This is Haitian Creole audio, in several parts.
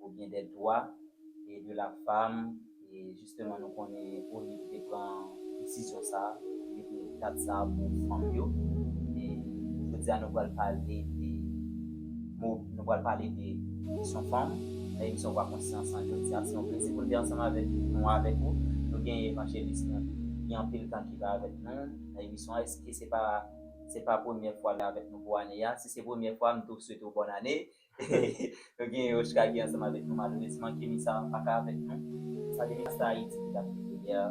ou byen dè dwa e de la fam e jisteman nou konnen ONIT te pran desizyon sa mete dat sa pou fanm yo e jodi a nou pral pale de mou nou pral pale de kesyon fanm nan emisyon vwa konsyans an jodi a se yon plezi pou n te ansanm avèk nou avèk ou nou gen evanjelis nou gen anpil tan ki la avèk nou nan emisyon an eske se pa se pa premyè fwa l avèk nou pou ane a si se premyè fwa m tou swete w bòn ane. Nou gen Yoshka ki ansanm avèk nou malerezman Kenisa paka avèk nou. Salye Masta Ayiti ki tap koute yè a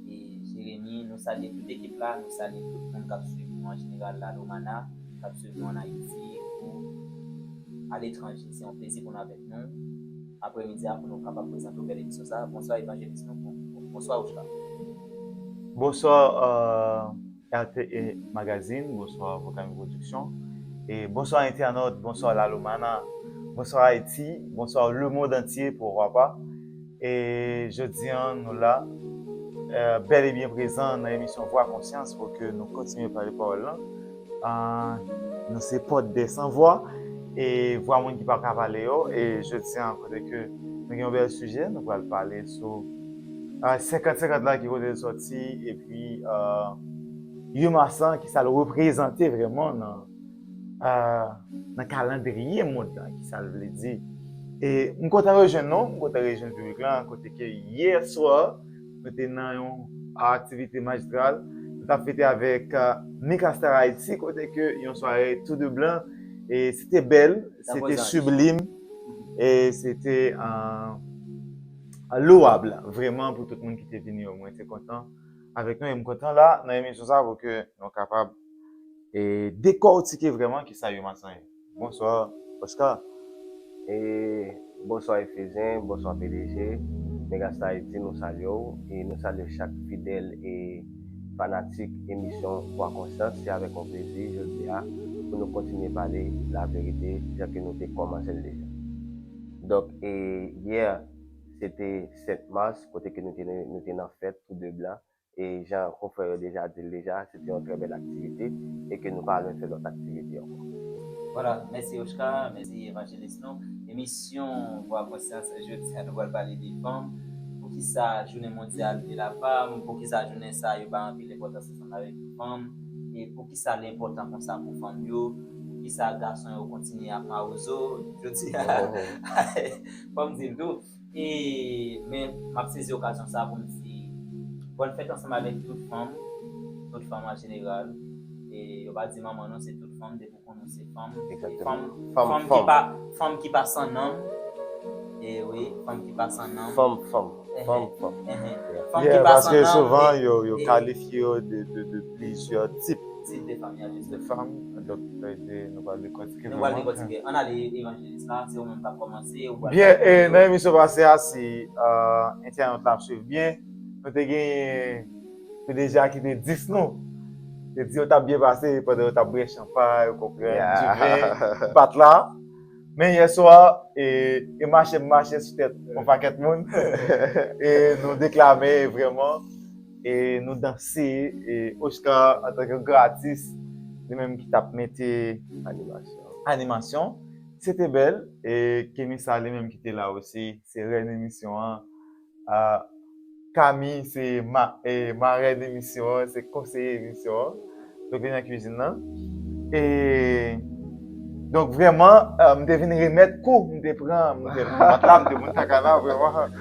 e Jeremie nou salye tout ekip la nou salye tout moun kap swiv nou an jeneral la Lomana kap swiv nou an Ayiti kou aletranje se yon plezi pou nou avèk nou aprè midi a pou nou kapab prezante w bèl emisyon sa a bonswa evanjelis nou bonswa Yoshka. Bonsoir RTE Magazine, Bonsoir Vokami Production e Bonsoir Internaute, Bonsoir Lalomana, Bonsoir Haïti, Bonsoir Le Monde Entier pourquoi pas e jodi an nou la bèl e byen prezan nan emisyon Vwa Konsyans pou ke nou kontinye pale pawòl lan nou se pòt de san vwa e vwa moun ki pa ka pale yo e jodi an kote ke nou gen yon bèl sijè nou pral pale sou 50 50 la ki kote l soti epi Yon mas lan ki sa l reprezante vreman nan kalandriye mond lan ki sa l vle di e m kontan rejwenn nou m kontan rejwenn piblik lan kote ke yè swa nou te nan Yon aktivite majistral nou tap fete avèk Mika Star Haiti kote ke Yon sware tou de blan e se te bèl se te siblim e se te Louable vreman pou tout moun ki te vini yo mwen te kontan avèk nou e m kontan la nan emisyon sa pou ke nou kapab dekòtike vreman kisa yon mason ye. Bonswa Oscar. E bonswa Efesyen, bonswa pdg Megastar Haiti nou salye w e nou salye chak fidèl e fanatik emisyon Vwa Konsyans se avèk yon plezi jodi a pou nou kontinye pale laverite jan ke nou te kòmanse l deja. Donk e yè se te 7 mars kote ke nou te nan fèt tou 2 blan e jan konfrè yo deja di l deja se te yon trè bèl aktivite e ke nou pa lwen fè lòt aktivite ankò. Vwala, mèsi Oshka, mèsi Evanjelis nou. Emisyon Vwa Konsyans jodi a nou pral pale de fanm, poukisa jounen mondyal de la fam, poukisa jounen sa yo bay anpil enpòtans ansanm avèk fanm e pou. Poukisa li enpòtan konsa pou fanm yo? Poukisa gason yo kontinye ap mawozo jodi a? Fò m di l tou, e men m ap sezi okazyon sa a pou m di bòn fèt ansanm avèk tout fanm, tout fanm an jeneral, e yo pa di manman non se tout fanm depi w konnen w se fanm, fanm ki pa san nanm, e wi fanm ki pa san nanm, fanm fanm, fanm fanm, fanm ki pa san nanm, paske souvan yo kalifye yo de. plizyè tip. Tip de fanm, ya, jis. De fanm, donk sa vle di nou pral dekòtike vrèman. Nou pral dekòtike. Ann ale Evanjelis la, se ou menm k ap kòmanse, ou pral. Byen, e nan emisyon pase a, si entènot la ap swiv byen, nou te genyen ki deja ki te dis nou, te di yo t ap byen pase pandan yo t ap bwè chanpay, ou konprann, diven, pat la. Men yè swa, e mache m mache sou tèt yon pakèt moun, e nou deklame vrèman. e nou danse e Oscar antank yon gran atis li menm ki tap mete animasyon se te bèl e Kemisa li menm ki te la osi se rèn emisyon an Kami se marèn emisyon an se konseye emisyon an. Yo vin nan kwizin nan. E donk vrèman, m te vin remèt kou m te pran. M te pran tab, m te pran kaka la vrèman.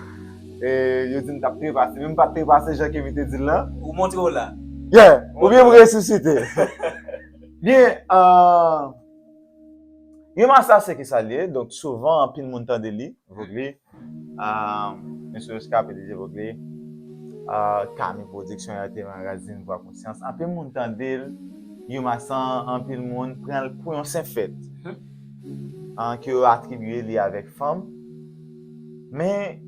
E yo di m t ap trepase. Men m pa t trepase jan Kemi te di l lan. Ou montre w la. Ye! Oubyen m resisite. Byen, yon masaj se ki sa l ye. Donk souvan anpil moun tande li. Voglie. Mwen se reskape de Zevokle Kami pwodiksyon ya te magazin vwa konsyans anpil moun tande l Yuma san anpil moun pran l pou yon senp fèt ke yo atribye li avèk fanm men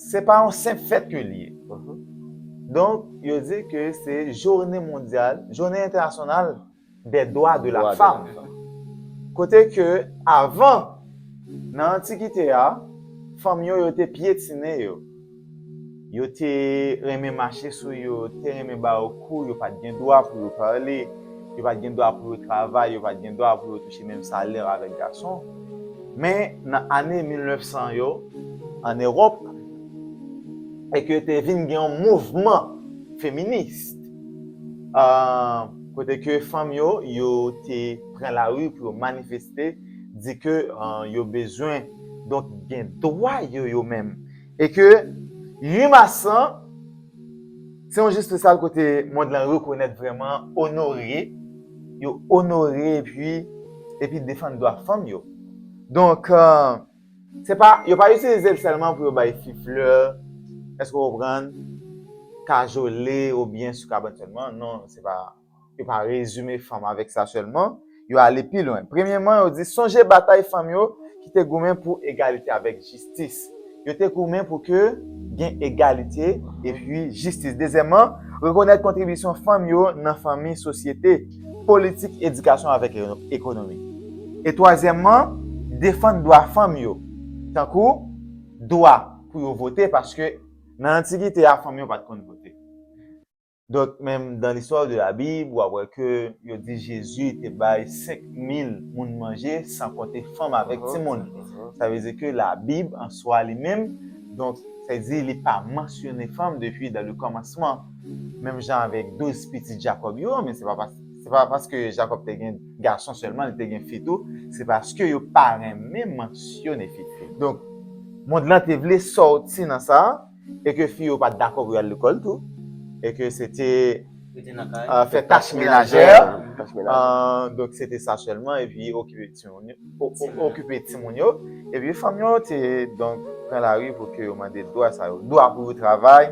se pa yon senp fèt ke l ye donk yo di ke se jounen mondyal jounen entènasyonal des droits de la femme kote ke avan nan antikite a fanm yo yo te pyetine yo yo te renmen mache sou yo yo te renmen ba yo kou yo pat gen dwa pou yo pale yo pat gen dwa pou yo travay yo pat gen dwa pou yo touche menm salè avèk gason men nan ane 1900 yo an eròp e ke te vin gen yon mouvman feminist. kote ke fanm yo yo te pran lari pou yo manifeste di ke yo bezwen donk gen dwa yo yo menm e ke 8 mas lan se yon jou spesyal kote mond lan rekonèt vreman onore yo onore epi epi defann dwa fanm yo donk Se pa, yo pa itilize l sèlman pou yo bay fi flè, èske w konprann, kajole oubyen sou kabann sèlman. Non, se pa, yo pa rezime fanm avèk sa sèlman. Yo ale pi lwen. Premyeman, yo di, sonje batay fanm yo ki te goumen pou egalite avèk jistis. Yo te goumen pou ke gen egalite epi jistis. Dezyèman, rekonèt kontribisyon fanm yo nan fanmi, sosyete. politik edikasyon avèk ekonomi. E twazyèmman, defann dwa fanm yo, tankou dwa pou yo vote paske nan antikite a fanm yo pa t konn vote. Donk menm dans l'histoire de la Bible w ap wè ke yo di Jezi te bay senk mil moun manje san konte fanm avèk timoun. Sa vle di ke la Bib an swa li menm donk sa vle di li pa mansyone fanm depi dans le commencement. Menm jan avèk douz pitit Jakòb yo, men se pa se pa paske Jakòb te gen gason sèlman, li te gen fi tou, se paske yo pa renmen mansyone fi. Donk, mond lan te vle sòti nan sa, e ke fi yo pa t dakò pou y al lekòl tou, e ke se te fè tach menajè, donk se te sa sèlman, epi okipe. okipe timoun yo, epi fanm yo te donk pran lari pou ke yo mande dwa sa yo, dwa pou yo travay,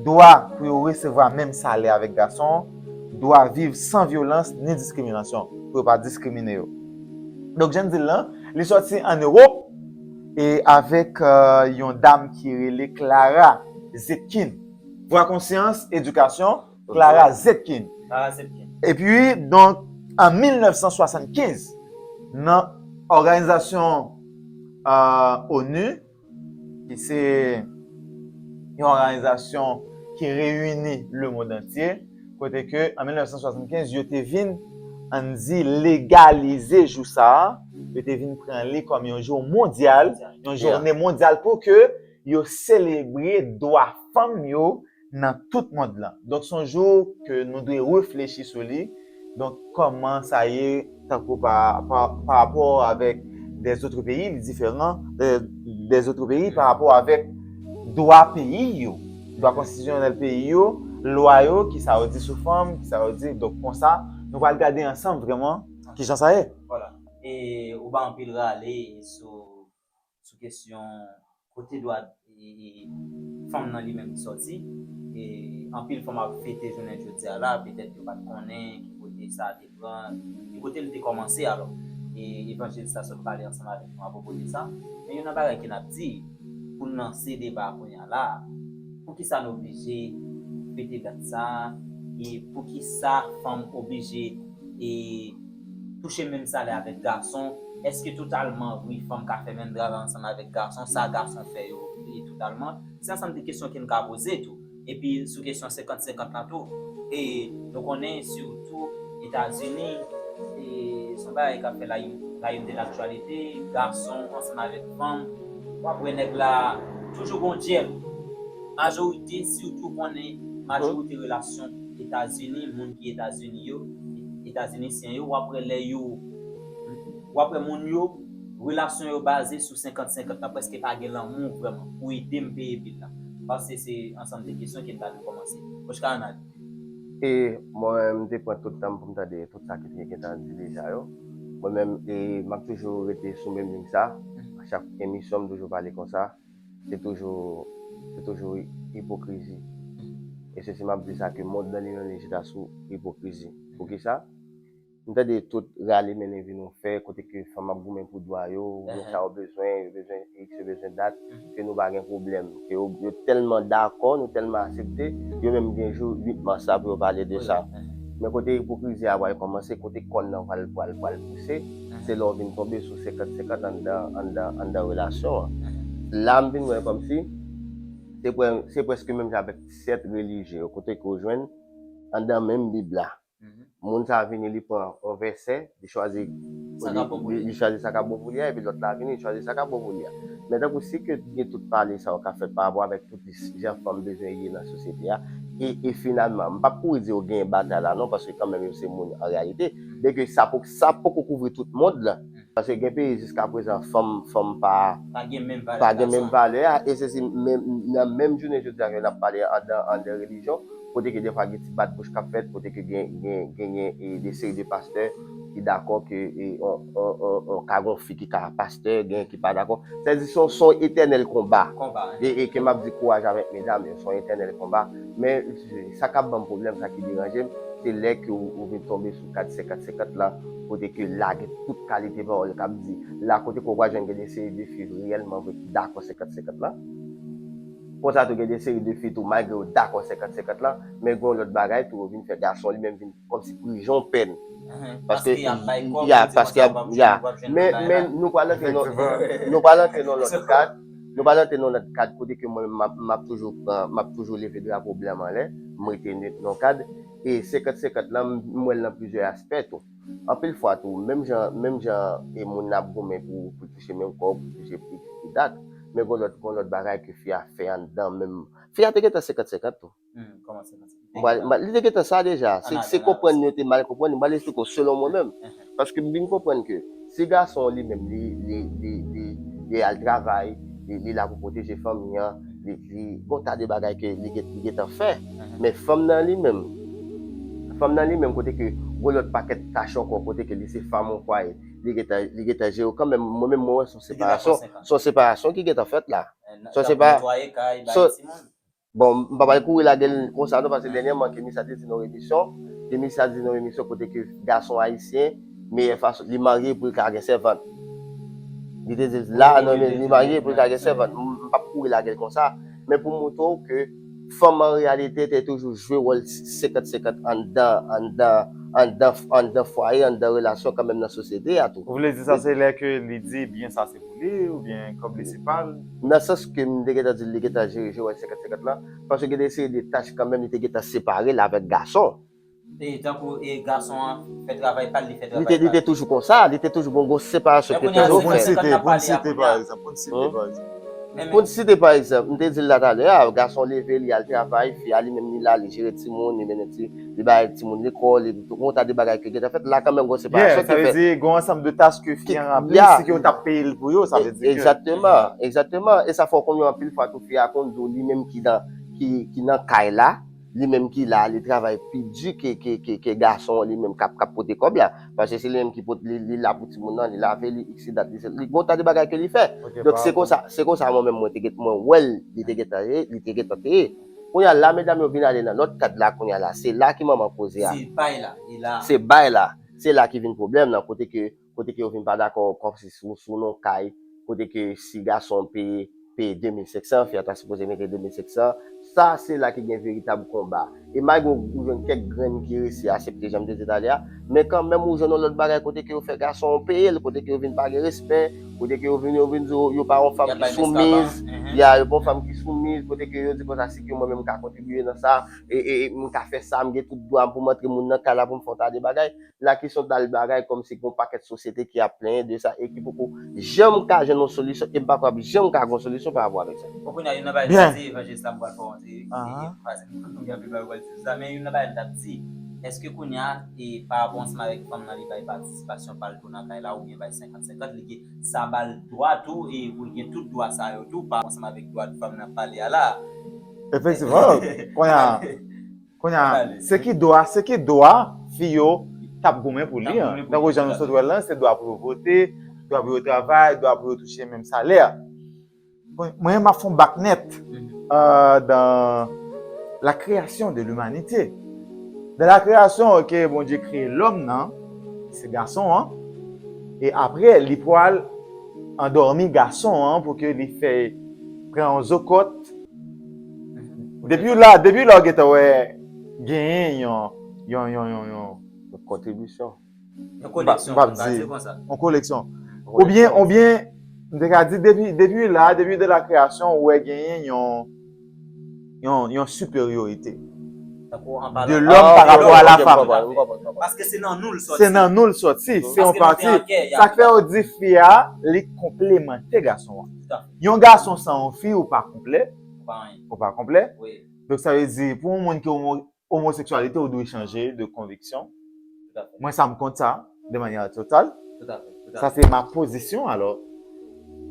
dwa pou yo resevwa menm salè avèk gason, dwa viv san vyolans ni diskriminasyon, pou yo pa diskrimine yo. Donk jan n di l lan, li sòti an Ewop e avèk yon dam ki rele Clara Zetkin. Vwa konsyans, edikasyon. Clara Zetkin. Clara Zetkin. E pi, donk, an 1975, nan òganizasyon onu, ki se yon òganizasyon ki reyini le mond antye, kote ke an 1975, yo te vin, an n di, legalize jou sa a, yo te vin pran li kòm yon jou mondyal, yon joune mondyal pou ke yo selebre dwa fanm yo, nan tout mond lan donk son jou ke nou dwe reflechi sou li donk kòman sa ye tankou pa rapò avèk dèzotre peyi li diferan dèzotre peyi pa rapò avèk dwa peyi yo dwa konstitisyonèl peyi yo lwa yo ki sa yo di sou fanm ki sa yo di donk konsa nou pral gade ansanm vrèman kijan sa ye. Vwala e ou bay anpil rale sou sou kesyon kote dwa fanm nan li menm sòti, e anpil fanm ap fete jounen jodi a la, petèt yo pa t konnen ki kote sa te pran, ki kote li te kòmanse alò. E Evanjelis la sot pale ansanm avèk nou apwopo de sa. Men youn nan bagay ke n ap di, pou n lanse deba a kounye a la a, poukisa nou oblije fete dat sa a? E poukisa fanm oblije e. touche menm salè avèk gason, èske totalman vre fanm ka fè menm travay ansanm avèk gason, sa gason fè yo ye totalman? Se ansanm de kesyon ke n ka poze tou. Epi sou kesyon 50 50 lan tou, e nou konnen sitou Etazini, e se yon bagay kap fè la la une de l'actualité, gason ansanm avèk fanm, w ap wè nèg la toujou gon dyèl. Majorite sitou konnen majorite relasyon. Etazini moun ki etazini yo etazinisyen yo wap wè lè yo wap wè moun yo relasyon yo baze sou 50 50 la preske pa gen lanmou vrèman pou edem peye bil la pase se ansanm de kesyon kem ta dwe komanse Oshka Anand. E mwen m te pran tout tanm poum tande tout sa ki te gentan di deja yo mwen menm e map toujou rete sou menm liy sa a chak emisyon m toujou pale konsa. se toujou se toujou ipokrizi e se si map di sa ke mond nan li menm li chita sou ipokrizi pou kisa m tande tout rale mennen vin nou fè kote ke fanm ap goumen pou dwa yo gen sa yo bezwen yo bezwen iks yo bezwen dat ke nou pa gen pwoblèm ke yo yo tèlman dakò nou tèlman asepte yo menm gen jou 8 mas la pou yo pale de sa men kote ipokrizi a pwal kòmanse kote kòn nan pwal pwal pwal pouse. se lè w vin tonbe sou 50 50 anndan anndan anndan relasyon an la m vin wè kòmsi se prè se prèske menm jan avèk sèt relijye yo kote ke w jwenn anndan menm bib la moun sa vini li pran yon vèsè li chwazi sa ka bon pou li li chwazi sa ka bon pou li a epi lòt la vini li chwazi sa ka bon pou li a men tankou si ke gen tout pale sa yo k ap fèt pa rapò avèk tout jan fanm bezwen ye nan sosyete a e e finalman m p ap kouri di yo genyen batay la non paske kanmenm yo se moun an reyalite byenke sa p Sa poko kouvri tout mond lan. Paske gen peyi jiska prezan fanm fanm pa pa gen menm valè a e se si menm nan menm jounen jodi a ke nap pale a andan andan relijyon kote ke defwa gen ti bat bouch kap fèt kote ke gen gen genyen e de seri de pastè ki dakò ke e on on on on ka gon fi ki ka pastè genyen ki pa dakò sa di son son etènèl konba e e ke map di kouraj avèk medam yo son etènèl konba men sa kap banm pwoblèm sa ki deranjem se lè ke ou vin tonbe sou Kad 50 50 la kote ke la gen tout kalite pawòl kap di la kote ke w pral jwenn gen de seri de fi reyèlman vre ki dakò 50 50 la konsa tou gen de seri de fi tou malgre yo dakò 50 50 la men gen yon lòt bagay tou yo vin fè gason li menm vin kòmsi prijon pèn paske ya paske yap ya men men nou pral antre nan nou pral antre nan lòt kad nou pral antre nan lòt kad kote ke mwen menm map map toujou pran map toujou leve drapo blan m anlè m rete nwit nan kad E 50 50 lan m wèl nan plizyè aspè tou. Anpil fwa tou, menm jan menm jan e moun ap goumen pou pou touche menm kòb, pou touche plis ki dat, men gon lòt gon lòt bagay ke fi a fè anndan menm. Fi a te gentan 50 50 tou. Kòman 50 50? M pral li te gentan sa deja. Se se konprann yo te mal konprann li. M pral esplike w selon mwen menm. Paske m vin konprann ke si gason an li menm li li al travay, li la pou pwoteje fanmi an, li gon ta de bagay ke li gentan fè. Men fanm nan li menm, fanm nan li menm kote ke gon lòt pakèt tach ankò kote ke li se fanm yon fwaye, li gentan li gentan jere yo kanmenm. Mwen menm mwen wè son separasyon, son separasyon ki gentan fèt la. Son sepa, son. Bon m pa pral kouri lagel konsa non paske dènyèman Kemi sa te di nan yon emisyon, Kemi sa di nan yon emisyon kote ke gason ayisyen meyè fason li marye pou l ka gen sèvant. Li te di l la nan yon li marye pou l ka gen sèvant. M pap kouri lagel konsa men pou m montre w ke fanm an reyalite te toujou jwe wòl 50 50 anndan anndan anndan anndan fwaye anndan relasyon kanmenm nan sosyete a tou. Ou vle di sa se lè ke li di byen sa se pou li oubyen kòb li se pa l? Nan sans ke m te gentan di l li gentan jere je wè 50 50 lan, paske gen de seri de tach kanmenm li te gentan separe l avèk gason. E tankou e gason an fè travay pa l, li fè travay pa l. Li te toujou konsa, li te toujou bon gon separasyon ki te toujou fèt. Pou n site, pou n site pa egzanp, pou n site pa egzanp. Pou n site pa egzanp, m te di l la talè a, gason leve li al travay, fi a li menm li la li jere timoun, li mennen ti. li bay timoun lekòl, li gen yon ta de bagay ki gentan fèt, la kanmenm gen yon separasyon ki fèt. Yè, sa vle di gen yon ansanm de tach ke fi an ranpli, si ke yo ta peye l pou yo, sa vle di ke. Egzakteman, egzakteman, e sa fè w konnen yo anpil fwa tou fi a konn di w li menm ki nan, ki nan kay la, li menm ki la, li travay pi di ke gason an li menm kap pote kòb la, paske se li menm ki pot, li la pou timoun nan, li lave, li iksidat, li gen yon ta de bagay ke li fè. Donk se konsa, se konsa mwen menm mwen te gentan, mwen wè l, li te gentan ye, li te gentan te ye. Kounye a la medam yo vin ale nan lòt kad la kounye a la se la ki manman koze a. Se bay la e la. Se bay la. Se la ki vin pwoblèm lan kote ke kote ke yo vin pa dakò kòm si sou sou non kay kote ke si gason peye peye 2500 fi a ta sipoze mete 2500 sa se la ki gen veritab konba e malgre ou ou jwenn kèk grenn ki resi asepte jan m te di talè a men kanmenm ou jwenn yon lòt bagay kote ke yo fè gason peye l kote ke yo vin pa gen respè Kote ke yo vin yo vin di w yo pa yon fanm ki soumiz, ya yo pa yon fanm ki soumiz, kote ke yo di konsa si ke mwen menm m ka kontribiye nan sa, e m ka fè sa, m gen tout dwa pou m antre moun nan kay la pou m fè yon ta de bagay, la ki son ta de bagay kòm si gen yon pakèt sosyete ki ap plenyen de sa e ki poko janm ka jwenn yon solisyon e m pa kwè y ap janm ka gen yon solisyon pa rapò avèk sa. Bon kounya youn nan bagay sa se evanjelis la m pral fè w antre e m pa se m gen anpil bagay pou m pral di sou sa men youn nan bagay m t ap di èske kounya e pa rapò ansanm avèk fanm nan li bay patisipasyon pa l tou nan kay la oubyen bay 50. 50 li gen sa bal dwa tou e pou l gen tout dwa sa yo tou pa ansanm avèk dwa fanm nap pale a la a. Efektivman konnya konnya se ki dwa se ki dwa fi yo tap goumen pou li an tankou jan nou sot wèl lan se dwa pou yo vote dwa pou yo travay dwa pou yo touche menm salè. Mwen menm map fon bak nèt dan la kreyasyon de limanite. Dan la kreyasyon ke Bondye kreye lòm nan, se gason an, e apre li pwal andòmi gason an pou ke li fè pran yon zokòt. Depiw la, depiw la ou gentan wè genyen yon yon yon yon yon yon kontribisyon. Yon koleksyon, mwen ka di konsa. Yon koleksyon. Ou byen, ou byen, mwen te ka di, depi la, depi de la kreyasyon, ou wè genyen yon, yon, yon siperyorite. Tankou an palan. De lòm pa rapò a la fanm. Mwen konprann, mwen konprann. Paske se nan nou l soti. Se nan nou l soti. Se yon pati. Paske nou te an kè. Sa k fè yo di fi a, li konplemante gason an. Tout afe. Yon gason san yon fi, ou pa konplè. Ou pa anyen. Ou pa konplè. Wi. Donk sa vle di, pou yon moun ke ou. Omoseksyalite ou dwe chanje de konviksyon. Mwen sa m kont sa de manyè total. Sa se ma pozisyon alò.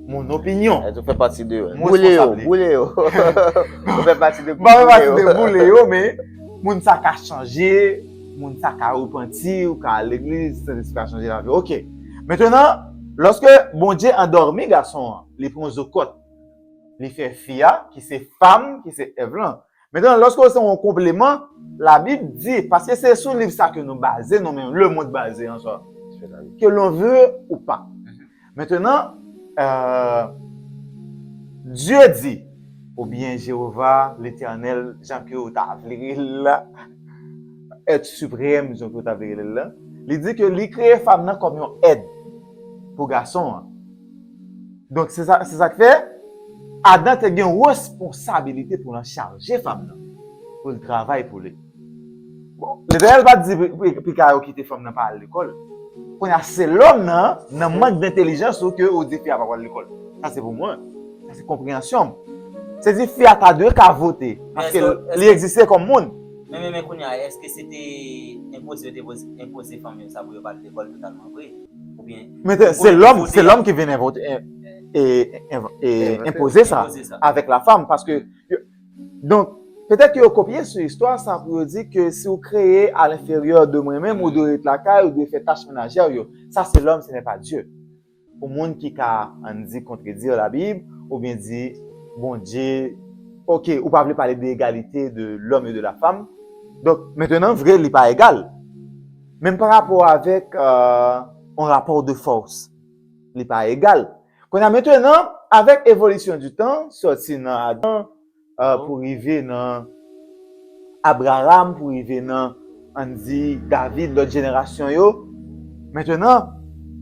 Mon opinyon. Ou fè pati de boule yo. Boule yo. Ou fè pati de boule yo. Mwen fè pati de boule yo men moun sa ka chanje, moun sa ka repanti, ou ka al legliz, Sentespri ka chanje lavi w. Ok. Mentenan, lòske Bondye andòmi gason an, li pran zokòt, li fè fi a ki se fam, ki se Èv lan, Mentnan, lòske yo se yon konpleman, Labib di, paske se sou liv sa ke nou baze nou menm, lemond baze an sa, ke lon vle ou pa. Mentnan, Dye di, oubyen Jewova, Letènèl, jan ke ou ta vle rele l la, Èt Siprèm, jan ke ou ta vle rele l la, li di ke li kreye fanm nan kòm yon èd pou gason an. Donk, se sa k fè, Adan te gen responsabilite pou l anchaje fanm nan, pou l travay pou li. Bon, Letènèl pa t di pou ka yo kite fanm nan pa al lekòl. Kounye a, se lòm nan, nan mank dentelijans ou ke ou di fi a pa pral lekòl. Sa se pou mwen. Sa se konpreyansyon m. Se di fi a ta dwe ka vote, paske li egziste kòm moun. Men, men, men, kounye a, èske se te enpoze yo te enpoze fanm yo sa pou yo pa al lekòl totalman vre? Men se lòm, se lòm ki vin envante, enpoze sa avèk la fanm, paske, donk, petèt ke yo kopye sou istwa sa pou yo di ke si ou kreye a lenferyè de mwen menm, ou dwe ret lakay, ou dwe fè tach menajè ou yo. Sa se lòm, se nè pa Dye. Pou moun ki ka, an n di, kontredi la Bib, ou byen di, bon Dye, ok, ou pa vle pale de egalite de lòm e de la fanm, donk, mentenan, vre, li pa egal. Menm pa rapò avèk yon rapò de fòs. Li pa egal. Kounye a mentenan, avèk evolisyon di tan, sòti nan Adan pou rive nan Abraram, pou rive nan, ann di, David, lòt jenerasyon yo, mentenan,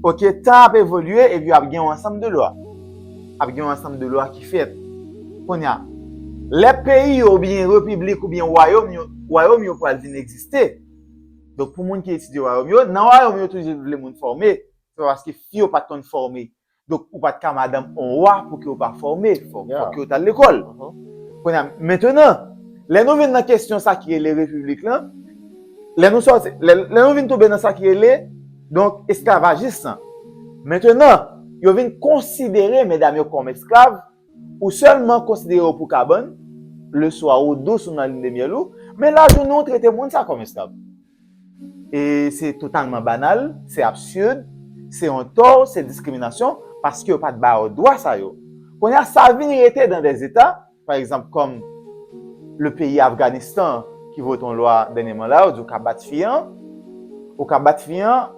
oke, tan ap evolye epi ap gen yon ansanm de lwa. Ap gen yon ansanm de lwa ki fèt. Kounye a, lè peyi yo oubyen repiblik oubyen wayòm yo, wayòm yo pral vin egziste. Donk pou moun ki etidye wayòm yo, nan wayòm yo toujou vle moun fòme, se pa paske fi yo pat konn fòme, donk ou pat ka madanm on wa pouki ou pa fòme, fòk yo tal lekòl. Kounye a, mentenan, lè nou vin nan kesyon sa ki rele repiblik lan, lè nou sòti, lè nou vin tonbe nan sa ki rele, donk esklavajis lan. Mentenan, yo vin konsidere medam yo kòm esklav, Ou sèlman konsidere yo pou kabann, leswa ou dous ou nan linnemyèl ou, men lajounen ou trete moun sa kòm esklav. E se totalman banal, se absird, se yon tò, se diskriminasyon, paske yo pa t ba yo dwa sa yo. Kounye a sa vin rete dan dè zeta, pa egzanp kòm le peyi Afganistan ki vote yon lwa dènyeman la, yo di ou ka bat fi an, ou ka bat fi an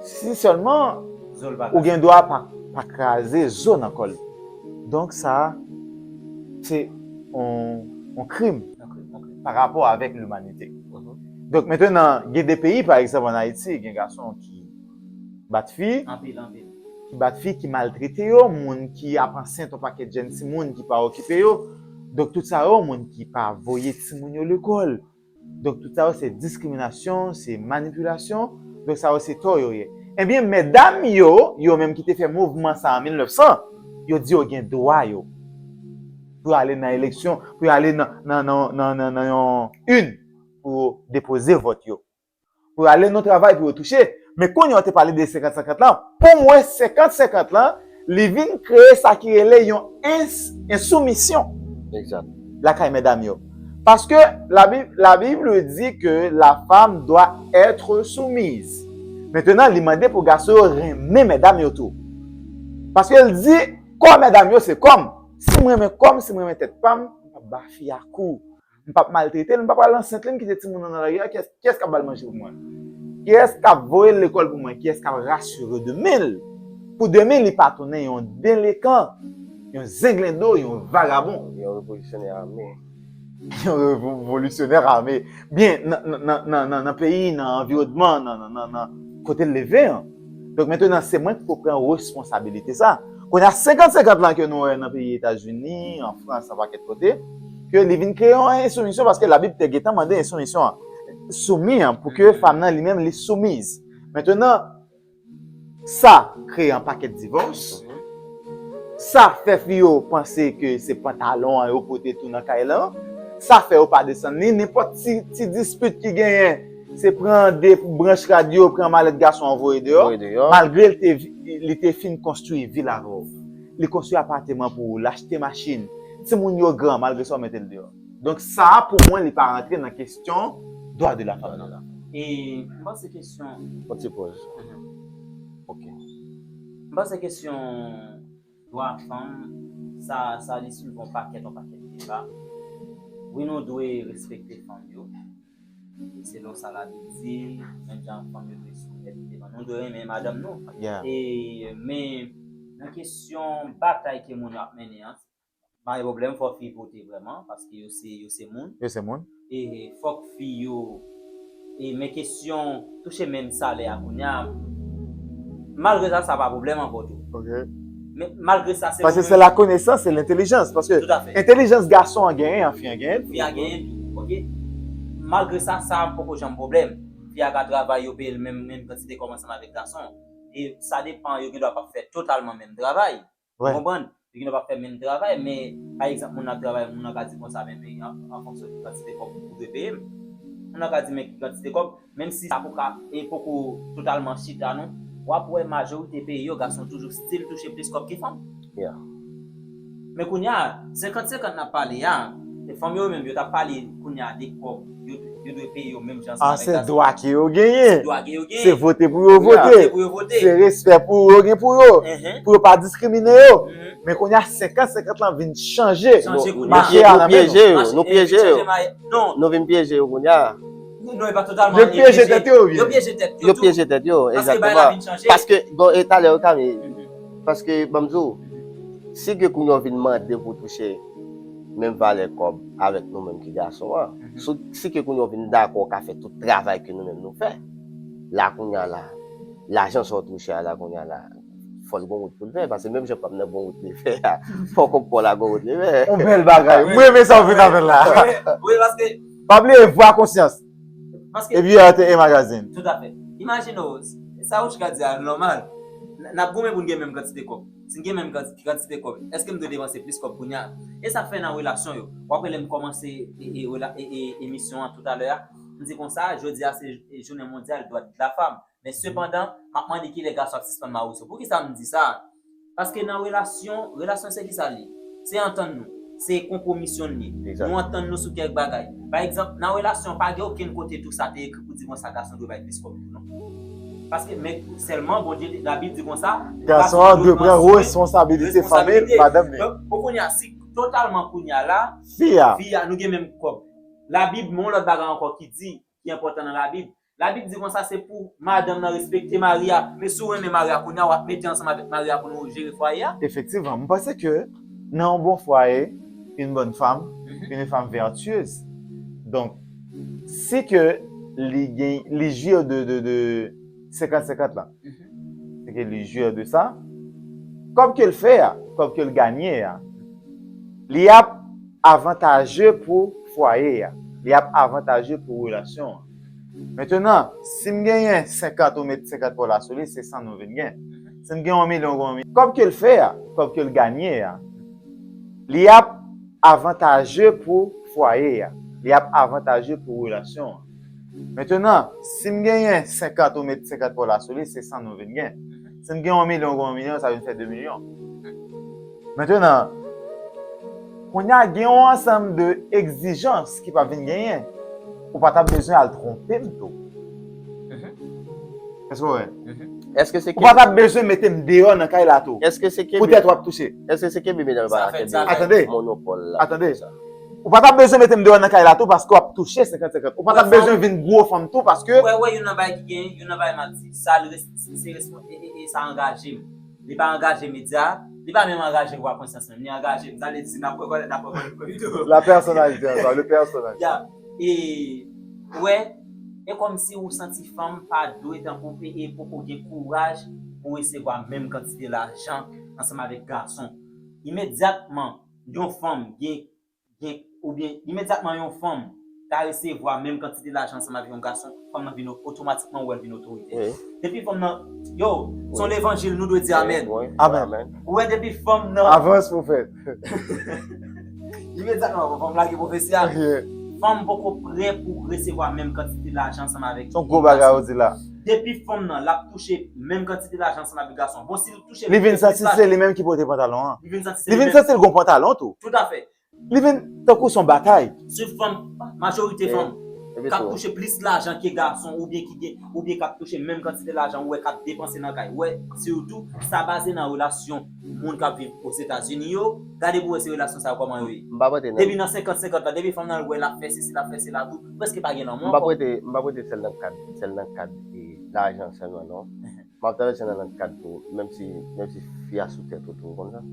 si sèlman, ou gen dwa pa kraze zo nan kò li. Donk sa a se yon krim pa rapò avèk limanite. Donk mentenan gen de peyi pa egzanp an Ayiti gen gason ki bat fi, ki bat fi, ki maltrete yo, moun ki ap ansent yon pakèt jèn timoun ki pa okipe yo. Donk tout sa yo moun ki pa voye timoun yo lekòl. Donk tout sa yo se diskriminasyon, se manipilasyon, donk sa yo se tò yo ye. Ebyen medam yo, yo menm ki te fè mouvman sa an 1900, yo di yo gen dwa yo pou yo ale nan eleksyon, pou yo ale nan yon urne pou yo depoze vòt yo. pou yo ale nan travay pou yo touche men kounye a ou te pale de 50 50 lan pou mwen 50 50 lan li vin kreye sa ki rele yon ensoumisyon lakay medam yo paske la bible di ke la fam dwa etre soumiz metenan li mande pou gason yo renmen medam yo tou paske li di kò medam yo se kòm si m renmen kòm si m renmen tèt pam m pap ba fi a kou M pap maltrete l, m pa pral ansent li, m kite timoun nan nan lari a, kiyès k ap ba l manje pou mwen? Kiyès k ap voye l lekòl pou mwen? Kiyès k ap rasire demen l pou demen li pa tounen yon delekan, yon zenglendo, yon vagabon? Yon revolisyonè ame. Yon revolisyonè ame. Byen, nan peyi, nan anviwònman, nan kote l leve an. Donk mentenan se mwen ki pou pran responsabilite sa. Kounye a 50-50 lan ke nou wè nan peyi Etazini, an Frans, an pakèt kote, ke li vin kreye yon ensoumisyon paske labib te gentan mande ensoumisyon an. Soumi an pou ke fanm nan li menm li soumiz. Mentenan sa kreye an pakèt divòs, sa fè fi yo panse ke se pantalon an yo pote tou nan kay lan, sa fè yo pa desann li, nenpòt ti dispit ki genyen, Se pran de branch radyo, pran malèt gason an voye deyò. Voye deyò. Malgre li te li te fin konstwi vil avè w. Li konstwi apateman pou ou, l achte machin. Timoun yo gran, malgre sa ou mete l deyò. Donk sa a pou mwen li pa rantre nan kesyon dwa de la fanm nan. E m panse kesyon. Yon ti poz. Ok. M panse kesyon. Dwa fanm sa sa li swiv on pakèt on pakèt deba wi nou dwe respekte fanm yo selon sa la bib di menm jan fanm yo dwe soumèt devan nou dwe renmen madanm nou e men nan kesyon batay ke moun yo ap mennen an Pa gen pwoblèm fò fi pote vrèman paske yo se yo se moun. Yo se moun. E fòk fi yo e men kesyon touche menm salè a kounya malgre sa sa pa pwoblèm ankò tou. Ok. Men malgre sa se yo menm. Paske se lakonesans, se lentelijans paske Toutafè. entelijans gason an genyen an fi an genyen l tou. Fi a genyen l tou. Ok. Malgre sa sa poko janm pwoblèm. Fi a ka travay yo peye l menm kantite kòm ansanm avèk gason. E sa depan yo gendwa pa fè totalman menm travay. Ou konprann? Li gen dwa pa fè menm travay, men, pa egzanp, moun nan ap travay, moun nan ka di konsa, men, men, an fonksyon ki kantite kòb ou dwe peye m. Moun nan ka di, men, ki kantite kòb, menm si sa poko, e poko totalman chita non, w ap wè majorite peyi yo, gason toujou stil touche plis kòb ke fanm. Yeah. Men kounye a, senkant senkant n ap pale a, fanm yo menm yo t ap pale kounye a de kòb. Yo dwe peye yo menm jan ansanm avèk Dazz. A se dwa ke yo genyen. Se dwa ke yo genyen. Se vote pou yo vote. Se vote pou yo vote. Se respè pou yo gen pou yo. Pou yo pa diskrimine yo. Men kounye a 50-50 lan vin chanje. Chanje kounye a. Mache a nan men nou. Mache. Nou pyeje yo. Non. Nou vin pyeje yo kounye a. Non e pa totalman. Yo pyeje tèt yo. Yo pyeje tèt yo. Yo pyeje tèt yo. Paske bay la vin chanje. Paske bon e talè yo kami. Paske banm di w. Si ke kounye a vin mande pou touche. menm valè kòb avèk nou menm ki gason an, si ke kounye w vin dakò w ka fè tout travay ke nou menm nou fè la kounye a la, lajan sa w touche a la kounye a la, fò l gon wout pou l fè, paske menm jan pam nan gon wout li fè a, fò kòb pa w la gon wout li fè. On bèl bagay! M renmen sa w vin avè l la. Pa bliye vwa konsyans. Epi yo ate e magazin. Tout afè. Imajine w, sa Ouchka di a nòmal. N ap goumen pou n gen menm kantite kòb. Si n gen menm kantite kòb, èske m dwe depanse plis kòb kounye a? E sa fè nan relasyon yo. W ap wè lè m kòmanse emisyon an toutalè a, m di konsa, jodi a se jounen mondyal dwadedafanm. Men sepandan, m ap mande kilè gason ap sispann mawouso. Poukisa m di sa? Paske nan relasyon, relasyon se kisa l ye? Se antann nou. Se konpwomisyon l ye. Nou antann nou sou kèk bagay. Pa egzanp, nan relasyon, pa gen okenn kote tou sa te ekri pou di konsa gason dwe bay plis kòb tou non. Paske, men, sèlman Bondye te, Labib di konsa, Gason an dwe pran reskonsabilite fanmi l, madanm li. Donk, bon kounye a, si totalman kounye a la, fi a, nou gen menm kòb. Labib, men yon lòt bagay ankò ki di, ki enpòtan nan labib. Labib di konsa se pou madanm nan respekte mari a. Men si w renmen mari a kounye a, w ap mete ansanm avèk mari a pou nou jere fwaye a. Efektivman, m panse ke nan yon bon fwaye, une bonne femme, une femme vertueuse, donk si ke li gen, li jouir de, 50 50 lan se ke li jure de sa kob kel fè a kob kel gagne a li ap avantaje pou fwaye a li ap avantaje pou relasyon an mentenan sim genyen 50 ou met 50 paw la sou li se 100 nou vin gen sim gen yon milyon ou gen yon milyon kob kel fè a kob kel gagne a li ap avantaje pou fwaye a li ap avantaje pou relasyon an. Mentenan, si m genyen 50 ou met 50 pa w la sou li, se 100 nou vin gen. Si m gen yon milyon ou gen yon milyon, sa vin fè 2 milyon. Mentenan, kounye a gen yon ansanm de egzijans ki p ap vin genyen. Ou pa t ap bezwen al twonpe m tou. Èske w wè? Ou pa t ap bezwen mete m deyò nan kay la tou. Poutèt w ap touche. Èske se kenbe menaj la pa kenbe monopòl la? Atande. Ou pa tap bezwen mete m deyò nan kay la tou paske w ap touche 50 50. Ou pa tap bezwen vin gwo fanm tou paske. Ou wè wè youn nan bagay ki genyen, youn nan bagay m ap di. Sa l res se respon e e e sa angaje m. Li pa angaje medya a, li pa menm angaje vwa konsyans menm. Li angaje m. Sa vle di n ap rekònèt n ap rekònèt nou tou. La pèsonalite ankò, le personnage. Ya. E ou wè, e kòmsi ou santi fanm pa dwe tankou e e poko gen kouraj pou resevwa menm kantite lajan ansanm avèk gason. Imedyatman. Yon fanm gen gen oubyen imedyatman yon fanm ta resevwa menm kantite lajan ansanm avèk yon gason, fanm nan vin otomatikman ou wè l vin otorite. Depi fanm nan Yow! Se yon levanjil nou dwe di amèn. Amèn. Ou wè depi fanm nan Avans pwofèt. Imedyatman fanm nan lage pwofesi a. Fanm poko prè pou resevwa menm kantite lajan ansanm avèk yon gason. Se yon gwo bagay ou di la. Depi fanm nan l ap touche menm kantite lajan ansanm avèk gason an. Bon si l Li vin santi se li menm ki pote pantalon an. Li vin santi l gon pantalon tou. Li vin tankou son batay. Sitou fanm, majorite fanm k ap touche plis lajan ke gason oubyen ki gen, oubyen k ap touche menm kantite lajan ou wè k ap depanse nan kay. Wè sitou sa baze nan relasyon moun k ap viv Ozetazini yo. Gade pou wè si relasyon sa yo kòman yo ye. Depi nan senkant senkant la, depi fanm nan wè l ap fè sesi l ap fè sela tou, prèske pa gen lanmou ankò. M pa prete sèl nan kad lajan sèlman non. Map travèse nan lòt kad tou menm si menm si fi a sou tèt ou tou ou konn sa?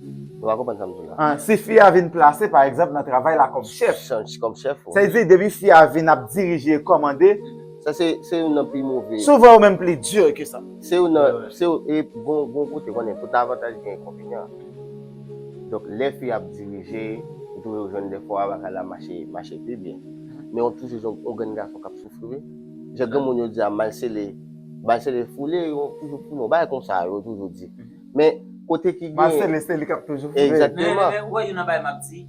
Nou pa konprann sam di la. An si fi a vin plase pa egzanp nan travay la kòm chèf. Chèf kòm chèf ou. Sa vle di depi fi a vin ap dirije e kòmande. Sa se se youn nan pi move. Souvan ou menm pli dur ke sa. Se youn nan se youn e gon gon kote konnen tout avantaj gen enkonvenyan. Donk lè fi ap dirije ou twouve ou jwenn dèfwa bagay la mache mache pi byen. Men ou toujou jwenn yon grenn gason kap soufri wi. Jan granmoun yo di a mal sele Mal sele foule yo toujou foule Yon bagay konsa yo toujou di Men kote ki gen Mal sele se li k ap toujou foule Egzakteman Men ou wè youn nan bagay m ap di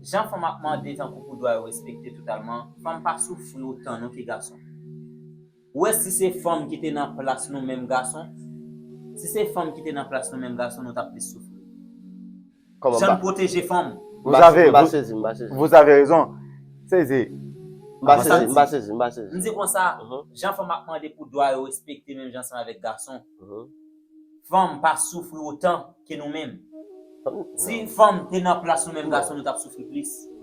Jan fanm ap mande tankou pou dwa yo respekte totalman Fanm pa soufri otan non ke gason Ou wè si se fanm ki te nan plas nou menm gason Si se fanm ki te nan plas nou menm gason nou t ap plis soufri Jan n pwoteje fanm. M pa sezi, m pa sezi, m pa sezi. Vous avez raison. Sezi. M pa sezi, m pa sezi, m pa sezi. M di konsa, jan fanm ap mande pou dwa yo respekte menm jan ansanm avèk gason, fanm pa soufri otan ke nou menm. Si fanm te nan plas nou menm gason nou t ap soufri plis.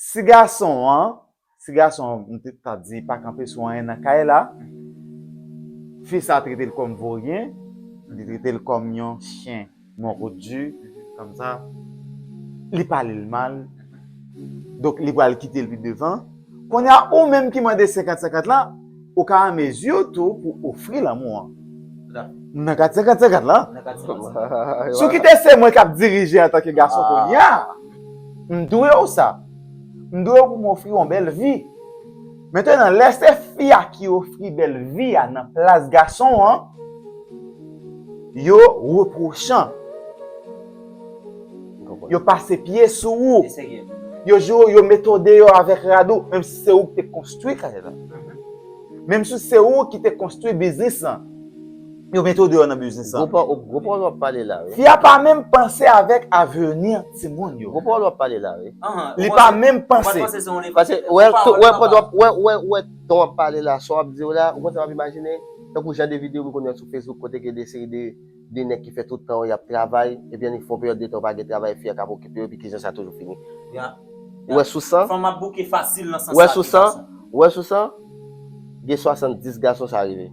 Ti gason an, ti gason an m te ta di pa kanpe sou anyen nan kay la, fi sa trete l kòm voryen, li trete l kòm yon chyen mòkodi, kòm sa, li pale l mal, donk li pral kite l pi devan. Kounye a ou menm ki mande senkant senkant lan, Ou ka an mezi tou pou ofri lanmou an. M nan kat 50 50 la. Si w kite se mwen k ap dirije antanke gason kounye a, m dwe w sa. M dwe w pou m ofri w yon bèl vi. Mentenan, lè se fi a ki ofri bèl vi a nan plas gason an, yo repwochan. Yo pase pye sou ou. Yo joure ou, yo mete ou deyò avèk rad ou, menm si se ou ki te konstwi kay la. Menm si se ou ki te konstwi biznis lan. Yo mete ou deyò nan biznis lan. Gwo pawòl w ap pale la wi. Fi a pa menm panse avèk aveni timoun yo. Gwo pawòl w ap pale la wi. Li pa menm panse. Pase ou wè ton w ap pale la, sa w ap di yo la, ou konn sa m ap imajine? Tankou jan de videyo m konn wè sou Facebook kote gen de seri de. 2 nèg ki fè tout tan yo y ap travay, ebyen li fè yon peryòd de tan yo pa gen travay, fi a k ap okipe yo, epi ki jan sa toujou fini. Ou wè sou 100. Fanm ap bouke fasil nan sans sa de gason. Ou wè sou 100, gen 70 gason sa rive.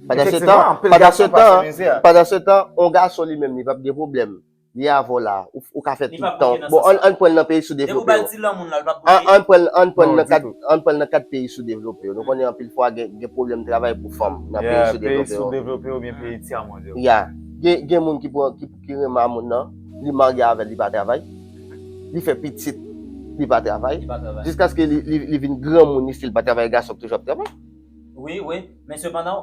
Efektivman, anpil gason pase mizè. Pandansetan, yon gason li menm li p ap gen pwoblèm. Li avèw la, ou ka fè tout tan. Bon ann prann nan peyi sou devlope yo. Nou konnen anpil fwa gen pwoblèm travay pou fanm nan peyi sou devlope yo. Ya, peyi sou devlope yo oubyen peyi tya mond yo. Ya, gen moun ki renmen a moun nan, li marye avèl li pa travay, li fè pitit li pa travay, jiskaske li vin granmoun li stil pa travay gason ki toujou ap travay. Wi, wi, men sepandan.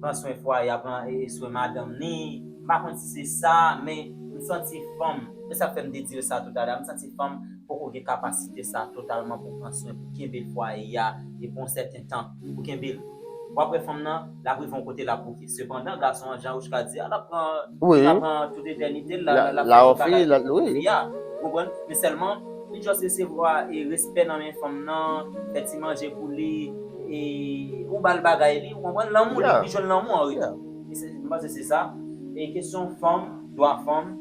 pran swen fwaye a pran swen madanm ni m pa konn si se sa men m santi fanm se sak fè m te di yo sa tout a la m santi fanm poko gen kapasite sa totalman pou pran swen pou kenbe fwaye a pou yon sèten tan pou kenbe l wap wè fanm nan lap rive yon kote lap bouke sepandan gason an jan Rouchka di a lap pran tout etènite l lap fè tout bagay pou fi a ou konprann men sèlman. Li just resevwa e respè nan men fanm nan, fè ti manje pou li e ou bal bagay li ou konprann lanmou li jwenn lanmou an retou. M panse se sa. E kesyon fanm, dwa fanm,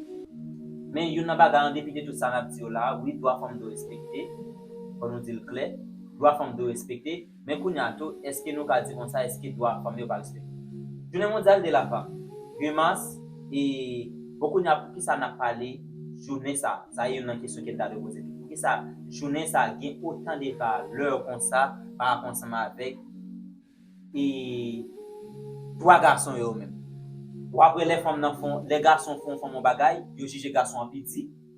men youn nan bagay an depi de tout sa nap di yo la, wi dwa fanm dwe respekte, fò nou dil klè, dwa fanm dwe respekte. Men kounye a tou, èske nou ka di konsa èske dwa fanm yo pa respekte? Jounen mondyal de la fanm, 2 mas, e bon kounye a poukisa n ap pale jounen sa? Sa e youn nan kesyon ke n ta dwe poze tou. Poukisa jounen sa gen otan de valè konsa pa rapò ansanm avèk e dwa gason yo menm? Ou apre lè fanm nan fon, lè gason fon fanm yon bagay, yo jije gason an pi di?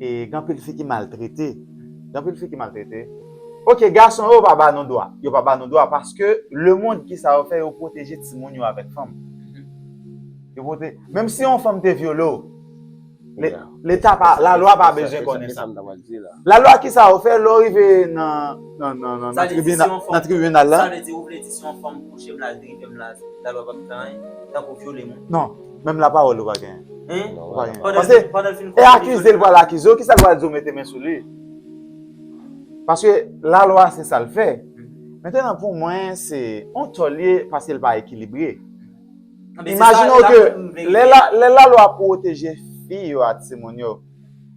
E gen anpil fi ki maltrete. Gen anpil fi ki maltrete. Ok gason yo pa ba nou dwa. Yo pa ba nou dwa paske le mond ki sa yo fè yo pwoteje timoun yo avèk fanm. Yo pwote menm si yon fanm te vyole w. Leta pa la lwa pa bezwen konnen sa. Se sa m ta pral di la. La lwa ki sa yo fè lè w rive nan nan tribina nan tribinal la. Sa vle di ou vle di si yon fanm kouche m la l dripe m la la lwa pap fè anyen tankou vyole moun. Non. Menm la parole ou pa gen. Hein? Ou pa gen. Pase, e akize l pral akize w, kisa l pral di w mete men sou li? Paske la lwa se sa l fè. Mentenan pou mwen se on tò l ye paske l pa ekilibre. Imajine w ke lè la, lè la lwa pwoteje fi yo a timoun yo,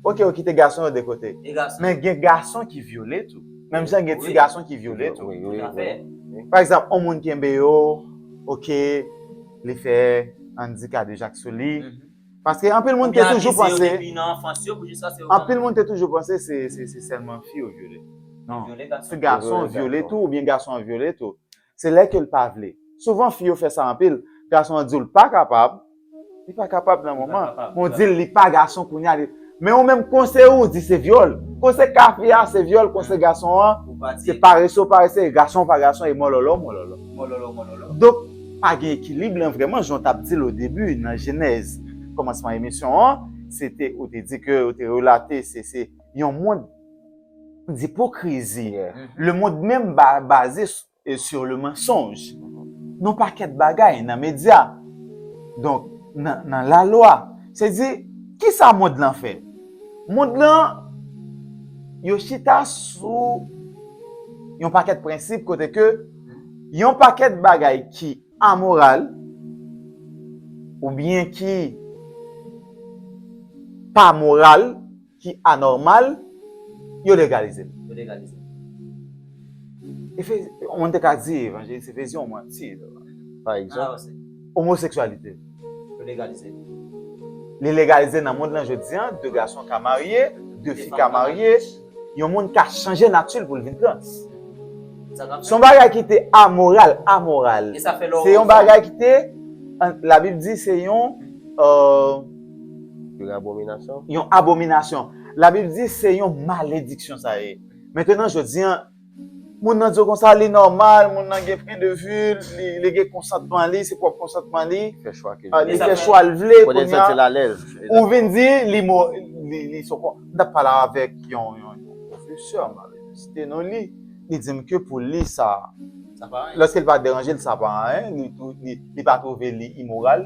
ok yo kite gason yo de kote. E gason? Men gen gason ki vyole tou. Menm jan gen ti gason ki vyole tou. Tout a fè. Pa egzanp, on moun kenbe yo, ok. li fè Andy kadejak sou li. Paske anpil moun te toujou panse, anpil moun te toujou panse se sèlman fi yo vyole. Non, se gason vyole tou, oubyen gason an vyole tou. Se lè ke l pa vle. Souvan fi yo fè sa anpil, gason an di w l pa kapab, li pa kapab nan moman, men w di l li pa gason kounya li. Men ou menm konse ou di se vyòl. Konse kafe a se vyòl konse gason an se parese ou parese e gason ou pa gason e mòlòlò mòlòlò. Mòlòlò mòlòlò. Donk pa gen ekilib lan vrèman jan w tap di l o debi nan jenèz kòmansman emisyon an se te ou te di ke ou te relate se se yon mond dipokrizi. Lemond menm baze sou. e sur le mensonge nan pakèt bagay nan medya donk nan la lwa se di kisa mond lan fè mond lan yo chita sou yon pakèt prensip kote ke yon pakèt bagay ki amoral oubyen ki pa moral. ki anòmal, yo legalize l. Yo legalize l. Efe, yon moun te ka di evanjelik se vizyon mwen. Si, pa egzanp. Ala wese. Omoseksyalite. Yo legalize l. Li legalize nan mond lan jodi an, de gason ka marye, de fi ka marye, yon moun ka chanje nati l pou l vin trans. Sa ka fèt. Se yon bagay ki te amoral, amoral. E sa fè lè w. Se yon bagay ki te, Labib di se yon. Yon abominasyon? Yon abominasyon. Labib di se yon malediksyon sa ye. Mentenan jodi an, moun nan di w konsa li nòmal, moun nan gen pwen de vi l, li gen konsantman li, se pwòp konsantman li, li fè chwa l vle, ou vin di li sou kont. M t ap pale avèk yon pwofesè, m ap site non li, li di m ke pou li sa, lòske l pa deranje l sa pa anyen, li pa twouve li imoral.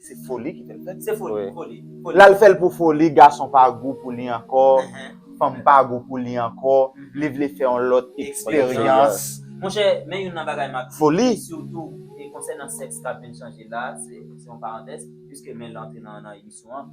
Se foli ki fèl fèl. Se foli, foli. Lal fèl pou foli, gason pa gou pou li ankò, fanm pa gou pou li ankò, li vle fè yon lòt eksperyans. Monchè, men youn nan bagay map di. Foli. Sitou konsènan sèks kap vin chanje la, se yon parantèz, piske Mel antre nan emisyon an.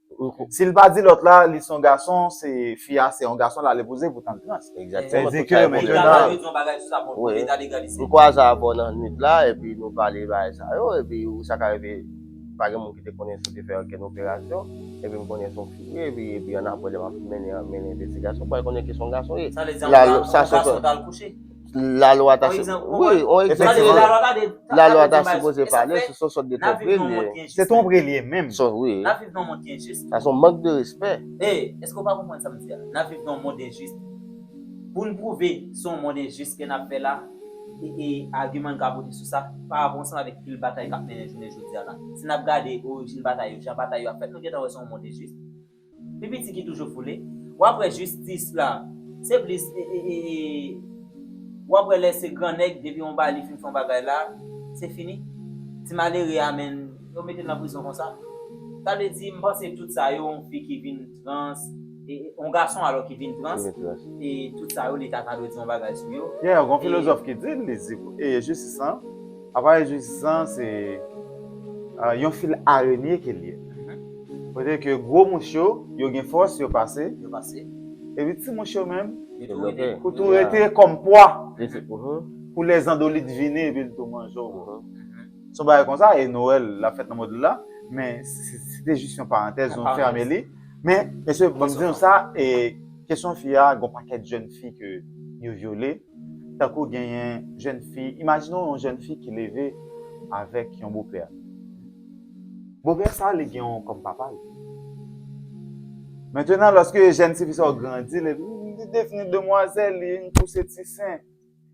Sil pa di lòt la li son gason se fi a se yon gason lale poze pou tann trans. Exactement. Tout sa yo bon nan la wi. Wi. Ou kwaze avè w nan nwit la epi nou pale bagay sa yo epi ou sa ka rive pa gen moun ki te konnen si w te fè okenn operasyon epi m konnen son fi wi epi epi annapre lè map mennen mennen envestigasyon mwen konnen ki son gason ye. Sa vle di yon gason tal kouche? La lwa ta se Wi, on egzanp Tande, la lwa ta de La lwa ta sipoze pale sou son sòt de twonpri li yo. Se twonpri li ye menm. Son wi. N ap viv nan yon mond ki enjis. Sa son mank de respè. E, èske ou pa konprann sa m di a? N ap viv nan yon mond enjis. Pou n pwouve se yon mond enjis ke n ap fè la, e agiman n ka pote sou sa, pa rapò ansanm avèk pil batay k ap mennen jounen jodi a la. Si n ap gade orijin batay yo, jan batay yo ap fèt, nou gentan wè se yon mond enjis. Pipiti ki toujou foule. Wap wè jistis la se plis wap wè lè se gran nèg depi yon bali fin fè yon bagay la se fini ti malere a menn yo metel nan prizon konsa sa vle di m panse tout sa yo yon fi ki vin trans yon gason alò ki vin trans tout sa yo leta ta dwe di yon bagay sou yo. Gen yon filozòf ki di li di pou jistis lan. Aparèy jistis lan se yon fil arenye ke l ye. Kote ke gwo mouch yo, yo gen fòs, yo pase. Yo pase. Epi ti mouch yo menm. Yo tou rete. Yo tou rete kòm pwa. Pou lè zandolit vini epi l tou manje w. Se yon bagay konsa e Noël la fèt nan modèl la. Men se te jis yon parantèz nou fèmen li. Men mesye banm di nou sa e kesyon fi a gon pakèt jèn fi ke yo vyole. Tankou genyen jèn fi, imajine w yon jèn fi ki leve avèk yon bopè. Bopè sa li gen w kòm papa l. Mentenan lòske jèn ti fi sa grandi, li devni demwazèl, li vin pouse ti sen,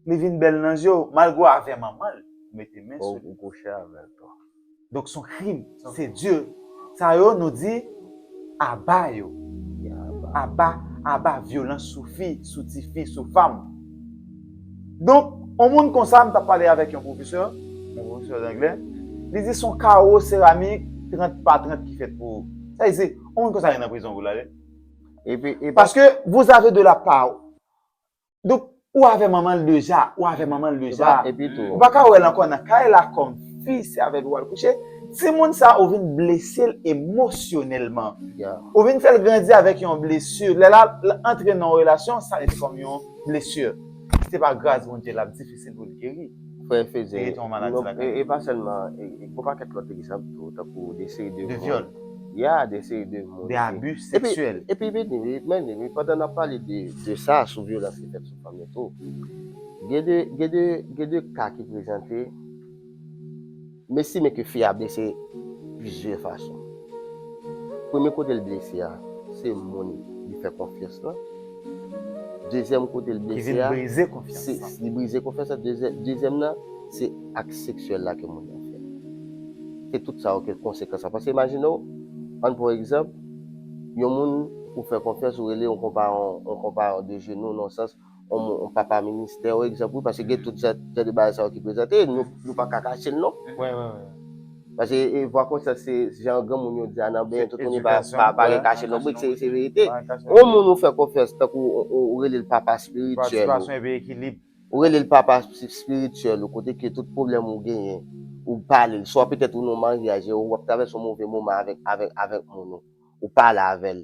li vin bèl nan je w, malgre w avè manman l, ou mete men sou li. Ou kouche avè l tou. Donk son krim se dieu sa yo nou di aba yo aba aba vyolans sou fi sou tifi sou fanm donk on moun konsa m tap pale avèk yon pwofesè yon pwofesè danglè li di son kawo seramik 30 pa 30 ki fèt pou sa vle di on moun konsa gen nan prizon pou l ale paske vouzave de la pa Donk ou avè manmanl deja ou avè manmanl deja ou paka wèl ankò nan kay la kòm fi se avèl pou wal kouche timoun sa ou vin blesel emosyonèlman ou vin fèl grandi avèk yon blesi lè lap antre nan yon relasyon sa vin fòm yon blesi se pa gras Bondye lap difisil poul geri. Frè Fedye, e pa sèlman, gwo pakèt lòt egzanp tou, tankou de seri de moun. De vyòl. Ya, de seri de moun. De abi seksyèl. Epi vini wi, men vini wi, pandan n ap pale de sa, sou vyolans ki fèt sou fanm yo tou, gen de ka ki prezante. M estime ke fi a blese plizyè fason. Premye kote l blese a, se moun li fè konfyans lan. Dezyèm kote l blese a. Ki vin brize konfyans lan. Li brize konfyans lan. Dezyèm nan, se ak seksyèl la ke moun nan fè. Se tout sa yo ke konsekans la. Paske imajine w, ann pran yon egzanp, yon moun ou fè konfyans, ou rele yon konpayon, yon konpayon de jenou, nan yon sans, yon papa ministè ou egzanp wi paske gen tout jan de bagay sa yo ki prezante e nou pa ka kache l non. Paske e vwa konsyans se jan granmoun yo di a nan benyen tout moun yo pa gen kache non brit se verite. Yon moun ou fè konfyans tankou ou rele l papa espirityèl ou, ou rele l papa espirityèl ou kote ke tout pwoblèm ou genyen ou pale l swa petèt ou nan yon maryaj e ou ap travèse yon move moman avèk moun ou, ou pale avè l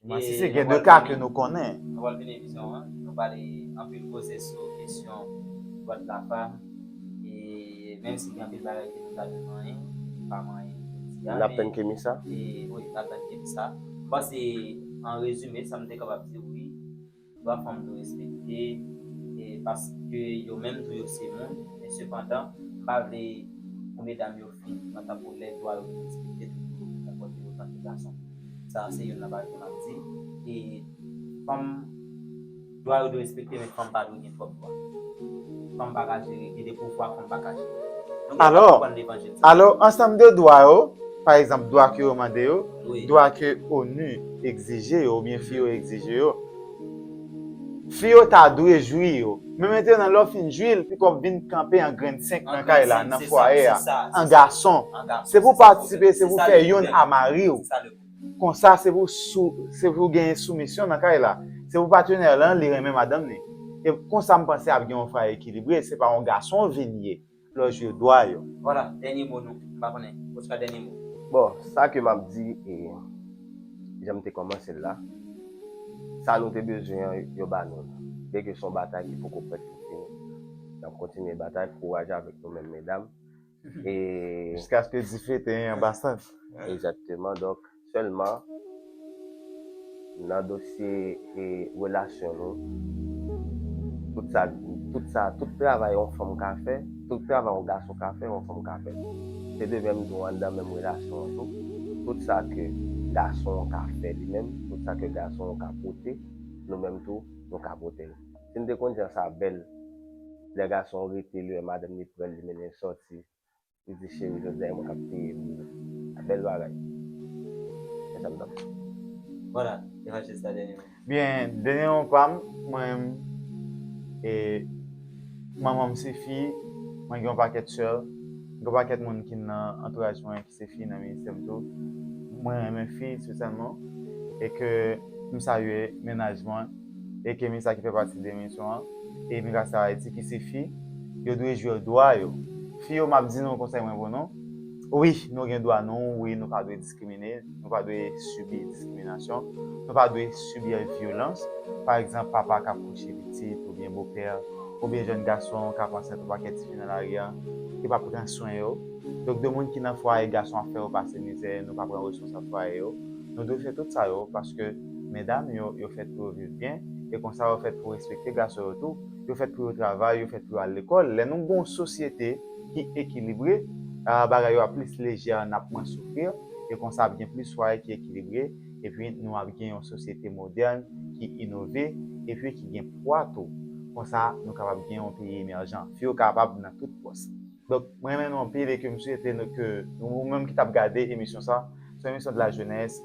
Masisi gen 2 ka ke nou konnen. Nou pral fini emisyon an, nou pale anpil koze sou kesyon Boîte la Femme e menm si gen anpil bagay ke nou ta dwe manyen, nou pa manyen jodi a. Nap tann Kemi sa? Wi, nap tann Kemi sa. Bon se an rezime sa m te kapab di wi. Dwa fanm dwe respekte paske yo menm tou yo se moun, men sepandan m pa vle pou medam yo fin pran tankou lè dwa yo vin respekte tout moun vin konpòte yo tankou gason. Sa a se youn nan bagay m ap di e fanm dwa yo dwe respekte men fanm pa dwe gen. Fòk bon. Fanm pa ka jere. Gen de pouvwa fanm pa ka jere. Nou gen dwa konprann levanjil sa. Alò, alò ansanm de dwa yo, pa egzanp dwa ke yo mande yo, dwa ke onu egzije yo oubyen fi yo egzije yo, fi yo ta dwe jwi yo. Men mentènan lè w fin jwi l, piko w ap vin kanpe an grenn senk nan kay la, nan fwaye a, an gason. Se pou w patisipe, se pou w fè youn a mari w. Konsa se pou sou se pou genyen soumisyon nan kay la. Se pou patenè lan li renmen madanm ni. E konsa m panse ap gen yon fwaye ekilibre, se pa yon gason w vin ye lè w jwe dwa yo. Vwala, dènye mo nou. M pa konnen. Oscar dènye mo. Bon, sa ke m ap di e jan m te kòmanse l la, sa nou te bezwen an yo ba nou l. Byen ke se yon batay ki poko prèt pou fini, n ap kontinye batay, kouraj avèk nou menm medam. Jiskaske dife te an ba sant. Egzakteman, donk sèlman nan dosye relasyon nou, tout sa, tout sa, tout travay yon fanm ka fè, tout travay yon gason ka fè, yon fanm ka fè tou. Se de menm tou anndan menm relasyon an tou, tout sa ke gason an ka fè li menm, tout sa ke gason an ka pote, nou menm tou nou ka pote l. Si m te konn jan sa bèl Lè gason rete li wè madanm li prèl li mennen l sòti Li di cheri jodi a e mwen kap peye pou nou A bèl bagay Men sa m tap di Vwala evanjelis la dènye mwen. Byen dènye mwen pa m mwen menm e manman m se fi mwen gen yon pakèt sè m gen yon pakèt moun ki nan antouraj mwen. Se fi nan ministè m tou. Mwen renmen fi espesyalman e ke m salye mennaj mwen e ke misa ki fè pati de misyon an e imigrasyon Ayiti ki se fi, yo dwe jwe dwa yo. Fi yo map di nou konsèy mwen pou nou, wi nou gen dwa nou, wi nou pa dwe diskrimine, nou pa dwe sibi diskriminasyon, nou pa dwe sibi vyolans, pa egzanp papa kap kouche pitit oubyen bopè oubyen jèn gason kap ansent yon pakèt tifi nan lari a, ki pa pran swen yo. Donk de moun ki nan fwaye gason ap fè yo pase mizè nou pa pran responsab fwaye yo nou dwe fè tout sa yo paske medam yo yo fèt pou yo viv byen e konsa yo fèt pou respekte gason yo tou yo fèt pou yo travay yo fèt pou yo al lekòl lè nou gon sosyete ki ekilibre bagay yo ap plis lejè nap mwen soufrir e konsa ap gen plis fwaye ki ekilibre epi nou ap gen yon sosyete modèn ki inove epi ki gen pwa tou konsa nou kapab gen yon peyi emèjan fi yo kapab nan tout pòs. Donk m renmen nou anpil e ke m swete nou ke ou menm ki t ap gade emisyon sa, se yon emisyon de la jeunesse,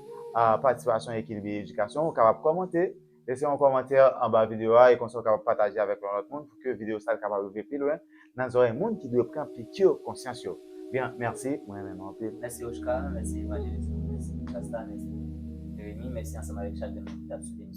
patisipasyon ekilibre edikasyon, ou kapab kòmante, lese yon kòmantè anba videyo a e konsa ou kapab pataje avèk yon lòt moun pou ke videyo sa l kapab rive pi lwen nan zòrèy moun ki dwe pran piki konsyans yo. Bien, mèsi, m renmen nou anpil. Mèsi Oshcar, mèsi Evangeliste, mèsi Shasta, mèsi Jeremie, mèsi ansanm avèk chak de moun ki t ap swiv emisyon sa.